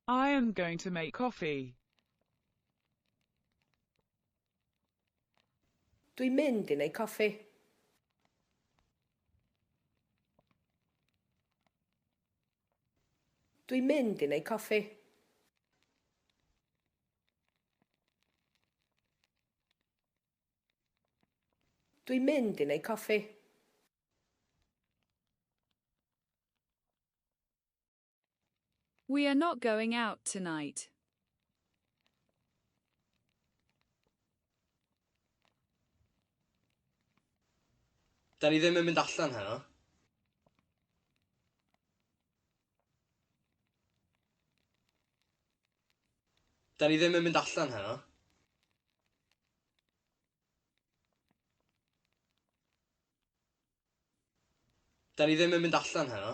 I am going to make coffee. Dwi'n mynd i wneud coffi. Dwi'n mynd i wneud coffi. Dwi'n mynd i wneud coffi. We are not going out tonight. Da ni ddim yn mynd allan heno. Da ni ddim yn mynd allan heno. Da ni ddim yn mynd allan heno.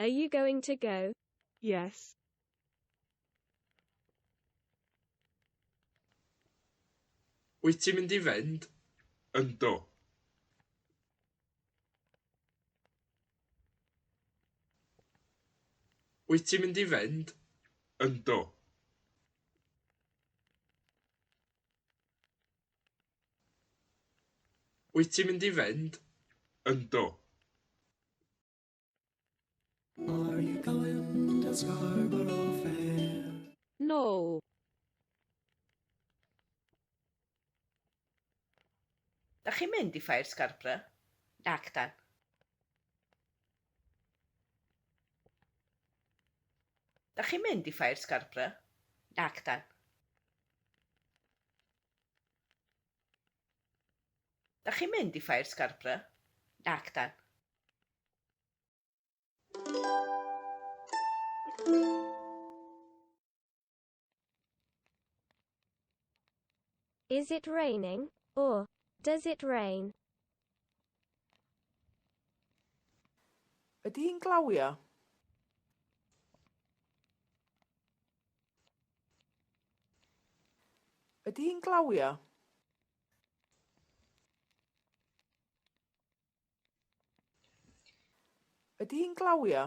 Are you going to go? Yes. Wyt ti'n mynd i fynd? Ynddo. Wyt ti'n mynd i fynd? Ynddo. Wyt ti'n mynd i fynd? Yndw. Are you going to Scarborough Fair? No. Dach chi'n mynd i Ffair Scarborough? Nac dan. Dach chi'n mynd i Ffair Scarborough? Nac dan. Dach chi'n mynd i Ffair Scarborough? Nac 'dan. Is it raining? Or, does it rain? Ydy hi'n glawio? Ydy hi'n glawio? Ydy hi'n glawio?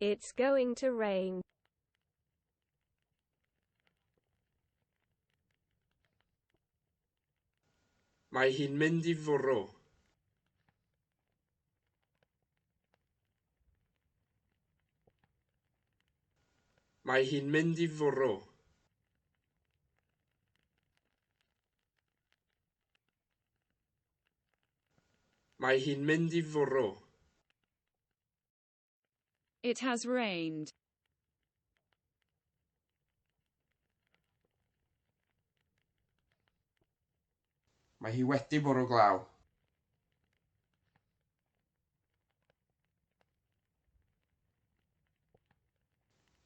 It's going to rain. Mae hi'n mynd i fwrw. Mae hi'n mynd i fwrw. Mae hi'n mynd i fwrw. It has rained. Mae hi wedi bwrw glaw.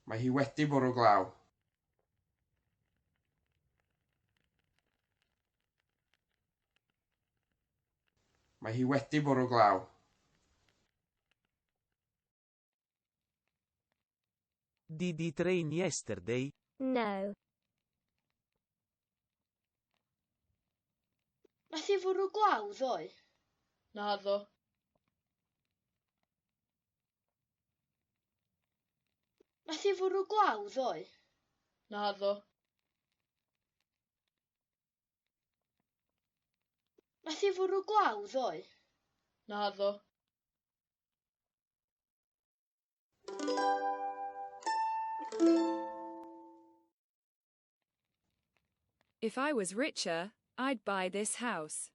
Mae hi wedi bwrw glaw. Mae hi wedi bwrw glaw. Did it rain yesterday? No. Nath hi fwrw glaw ddoe? Naddo. Nath hi fwrw glaw ddoe? Naddo. Nath hi fwrw glaw ddoe? Naddo. If I was richer, I'd buy this house.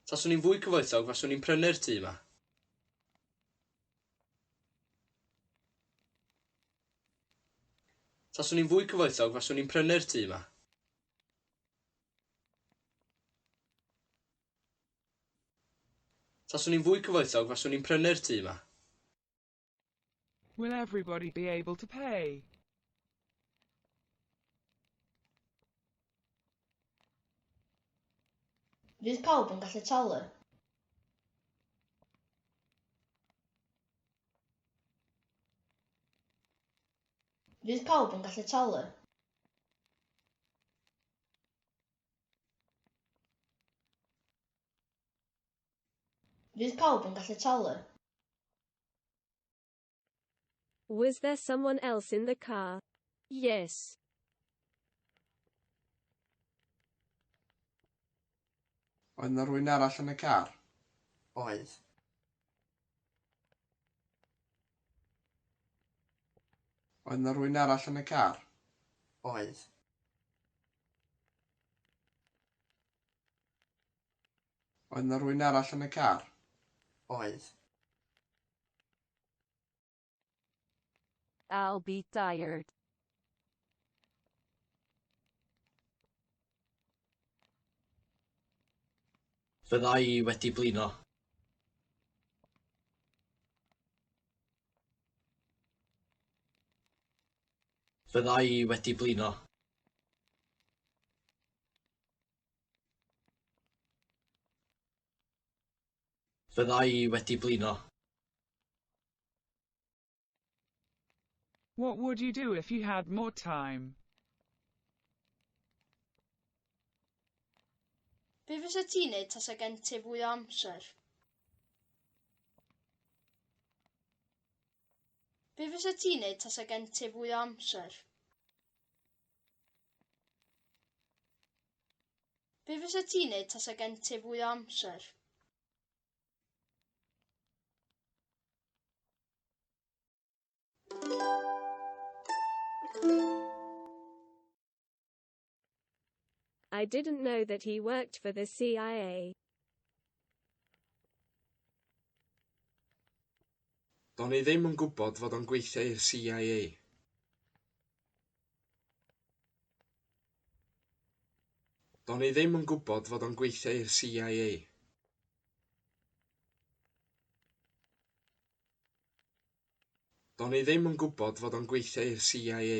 Taswn i'n fwy cyfoethog, faswn i'n prynu'r tŷ yma. Taswn i'n fwy cyfoethog, faswn i'n prynu'r tŷ yma. Taswn i'n fwy cyfoethog, faswn i'n prynu'r tŷ yma. Will everybody be able to pay? Fydd pawb yn gallu talu? Fydd pawb yn gallu talu? Fydd pawb yn gallu talu? Was there someone else in the car? Yes. Oedd 'na rwy'n arall yn y car? Oedd. Oedd 'na rwy'n arall yn y car? Oedd. Oedd 'na rywun arall yn y car? Oedd. I'll be tired. Fydda i wedi blino. Fydda i wedi blino. Fydda i wedi blino. What would you do if you had more time? Be fysa ti'n neud tasa gen ti fwy o amser? Be fysa ti'n neud tasa gen ti fwy o amser? Be fysa ti'n neud tasa gen ti fwy o amser? I didn't know that he worked for the CIA. Do'n i ddim yn gwybod fod o'n gweithio i'r CIA. Do'n i ddim yn gwybod fod o'n gweithio i'r CIA. Do'n i ddim yn gwybod fod o'n gweithio i'r CIA.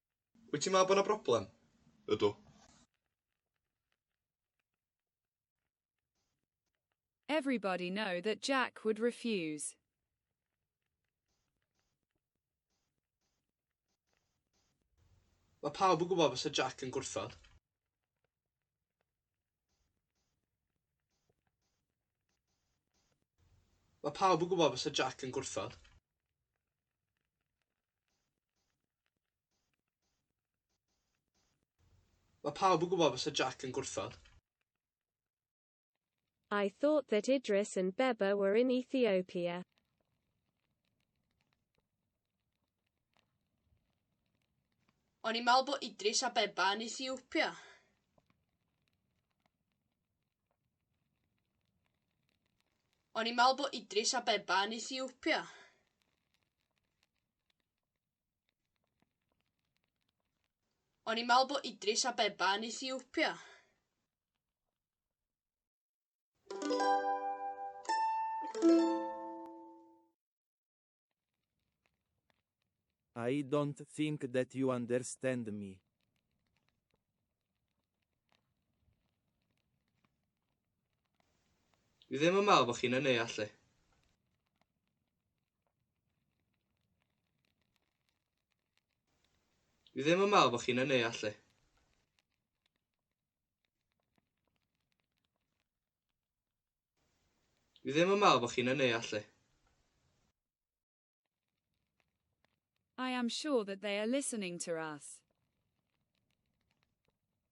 Wyt ti'n meddwl bod yna broblem? Ydw. Everybody know that Jack would refuse. Mae pawb yn gwybod fysa Jack yn gwrthod. Mae pawb yn gwybod fysa Jack yn gwrthod. Mae pawb yn gwybod fysa Jack yn gwrthod. I thought that Idris and Beba were in Ethiopia. O'n i'n meddwl bod Idris a Beba yn Ethiopia. O'n i'n meddwl bod Idris a Beba yn Ethiopia. O'n i'n meddwl bod Idris Abeba yn Ethiopia. I don't think that you understand me. Dwi ddim yn meddwl bod chi'n yn ei allu. Dwi ddim yn meddwl bod chi'n ynnu, Ashley. Dwi ddim yn meddwl bod chi'n ynnu, Ashley. I am sure that they are listening to us.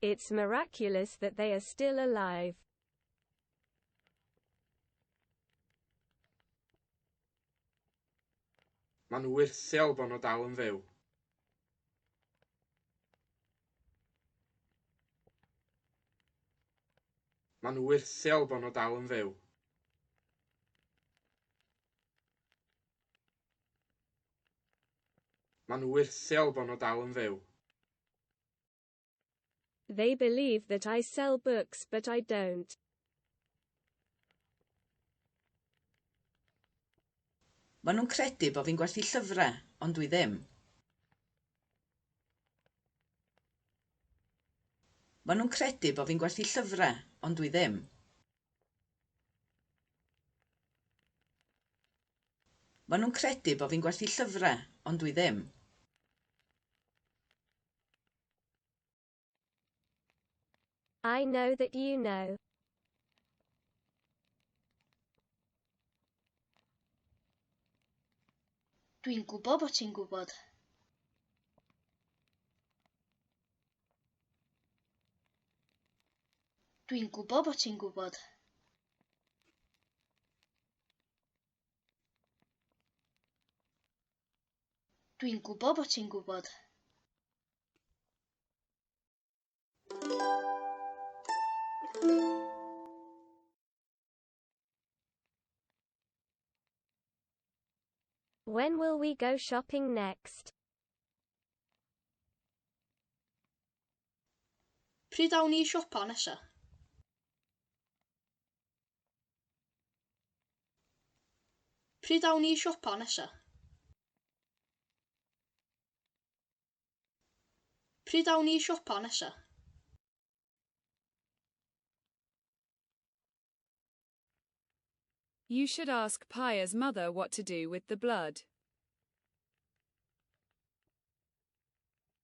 It's miraculous that they are still alive. Maen nhw wyrthiol bod nhw dal yn fyw. Maen nhw wyrthiol bod nhw dal yn fyw. Maen nhw wyrthiol bod nhw dal yn fyw. They believe that I sell books but I don't. Maen nhw'n credu bod fi'n gwerthu llyfrau, ond dwi ddim. Maen nhw'n credu bod fi'n gwerthu llyfrau, ond dwi ddim. Maen nhw'n credu bod fi'n gwerthu llyfrau, ond dwi ddim. I know that you know. Dwi'n gwybod bod ti'n gwybod. Dwi'n gwybod bod ti'n gwybod. Dwi'n gwybod bod ti'n gwybod. When will we go shopping next? Pryd awn ni i siopa nesa? Pryd awn ni i siopa nesa? Pryd awn ni i siopa nesa? You should ask Paya's mother what to do with the blood.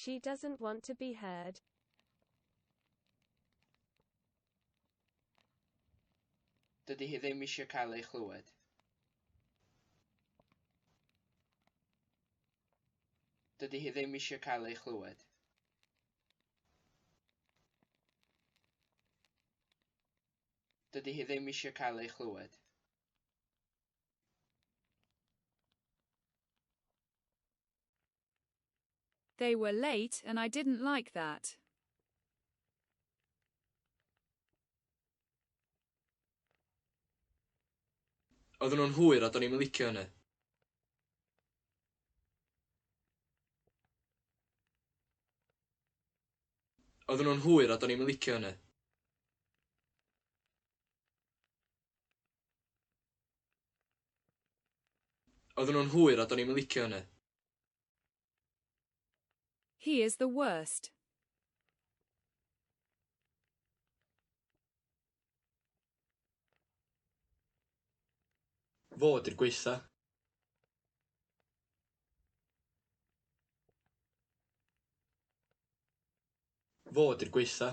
She doesn't want to be heard. Dydy hi ddim eisiau cael ei chlywed. Dydy hi ddim eisiau cael ei chlywed. Dydy hi ddim eisiau cael ei chlywed. They were late and I didn't like that. Oedden nhw'n hwyr a do'n i'm yn licio hynny. Oedden nhw'n hwyr a do'n i'm yn licio hynny. Oedden nhw'n hwyr a do'n i'm yn licio hynny. He is the worst. Fo ydy'r gwaetha. Fo ydy'r gwaetha.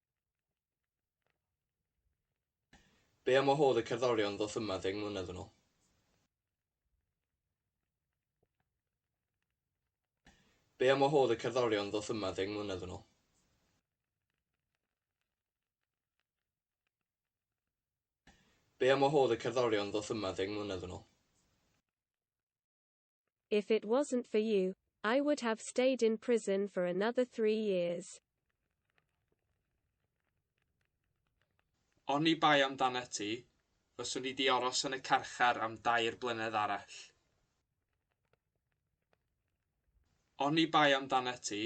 Be am wahodd y cerddorion ddoth yma ddeng mlynedd yn ol? Be am wahodd y cerddorion ddoth yma ddeng mlynedd yn ol? Be am wahodd y cerddorion ddoth yma ddeng mlynedd yn ol? If it wasn't for you, I would have stayed in prison for another three years. Oni bai amdanat ti, fyswn i 'di aros yn y carchar am dair blynedd arall. Oni bai amdanat ti,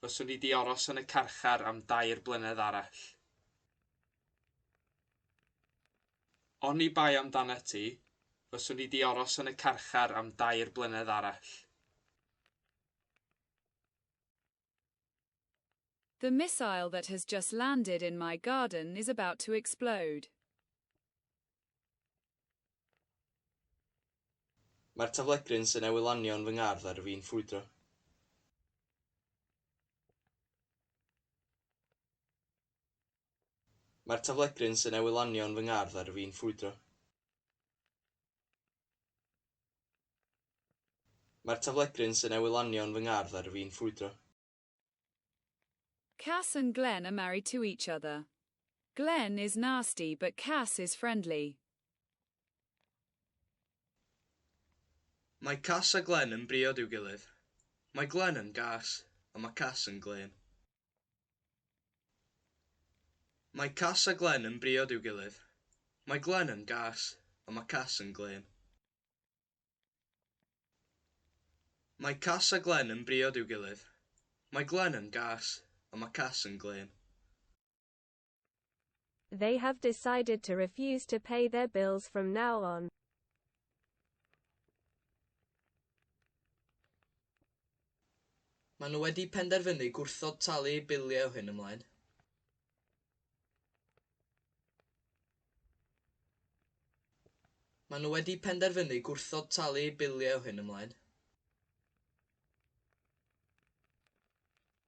fyswn i 'di aros yn y carchar am dair blynedd arall. Oni bai amdanat ti, fyswn i 'di aros yn y carchar am dair blynedd arall. The missile that has just landed in my garden is about to explode. Mae'r taflegryn sy'n newydd lanio yn fy ngardd ar fin ffrwydro. Mae'r taflegryn sy'n newid lanio yn fy ngardd ar fin ffrwydro. Mae'r taflegryn sy'n newid lanio yn fy ngardd ar fin ffrwydro. Cass and Glenn are married to each other. Glenn is nasty but Cass is friendly. Mae Cass a Glenn yn briod i'w gilydd. Mae Glenn yn gas a mae Cass yn glên. Mae Cas a Glen yn briod i'w gilydd. Mae Glen yn gas, ond mae Cas yn glên. Mae Cas a Glen yn briod i'w gilydd. Mae Glen yn gas, ond mae Cas yn glên. They have decided to refuse to pay their bills from now on. Maen nhw wedi penderfynu gwrthod talu eu biliau o hyn ymlaen. Maen nhw wedi penderfynu gwrthod talu eu biliau o hyn ymlaen.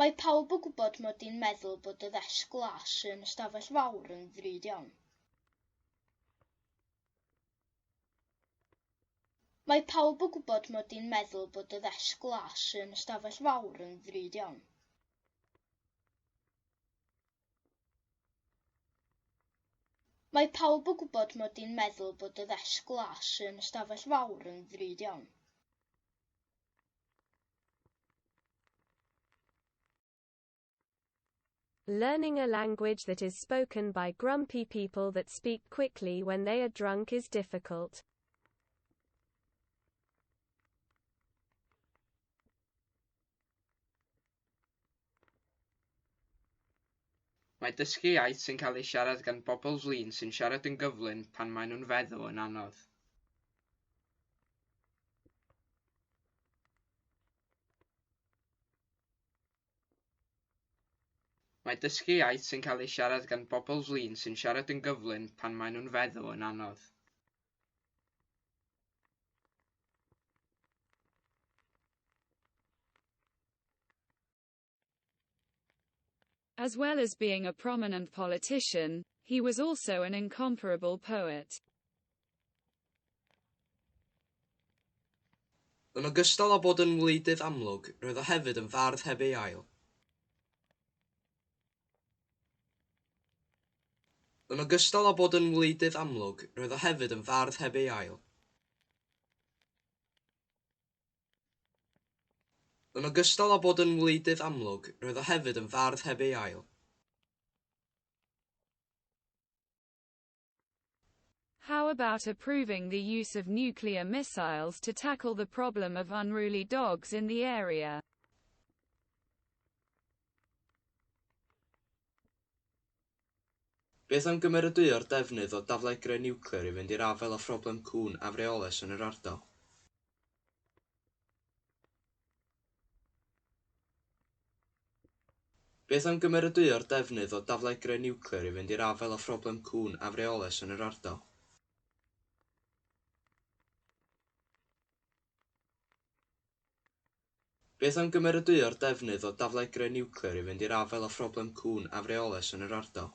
Mae pawb yn gwybod mod i'n meddwl bod y ddesg glas yn y stafell fawr yn ddrud iawn. Mae pawb yn gwybod mod i'n meddwl bod y ddesg glas yn y stafell fawr yn ddrud iawn. Mae pawb yn gwybod mod i'n meddwl bod y ddesg glas yn y stafell fawr yn ddrud iawn. Learning a language that is spoken by grumpy people that speak quickly when they are drunk is difficult. Mae dysgu iaith sy'n cael ei siarad gan bobl flin sy'n siarad yn gyflym pan maen nhw'n feddw yn anodd. Mae dysgu iaith sy'n cael ei siarad gan bobl flin sy'n siarad yn gyflym pan maen nhw'n feddw yn anodd. As well as being a prominent politician, he was also an incomparable poet. Yn ogystal â bod yn wleidydd amlwg, roedd o hefyd yn fardd heb ei ail. Yn ogystal â bod yn wleidydd amlwg, roedd o hefyd yn fardd heb ei ail. Yn ogystal â bod yn wleidydd amlwg, roedd o hefyd yn fardd heb ei ail. How about approving the use of nuclear missiles to tackle the problem of unruly dogs in the area? Beth am gymeradwyo'r defnydd o daflegrau niwclear i fynd i'r afael â phroblem cŵn afreolus yn yr ardal? Beth am gymeradwyo'r defnydd o daflegrau niwclear i fynd i'r afael â phroblem cŵn afreolus yn yr ardal? Beth am gymeradwyo'r defnydd o daflegrau niwclear i fynd i'r afael â phroblem cŵn afreolus yn yr ardal?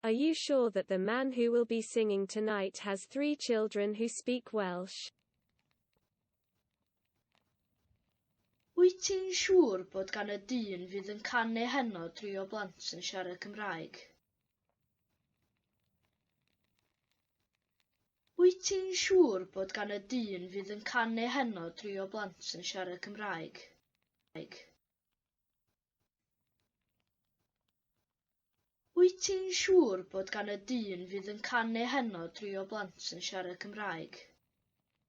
Are you sure that the man who will be singing tonight has three children who speak Welsh? Wyt ti'n siŵr bod gan y dyn fydd yn canu heno dri o blant yn siarad Cymraeg? Wyt ti'n siŵr bod gan y dyn fydd yn canu heno dri o blant yn siarad Cymraeg? Wyt ti'n siŵr bod gan y dyn fydd yn canu heno dri o blant yn siarad Cymraeg?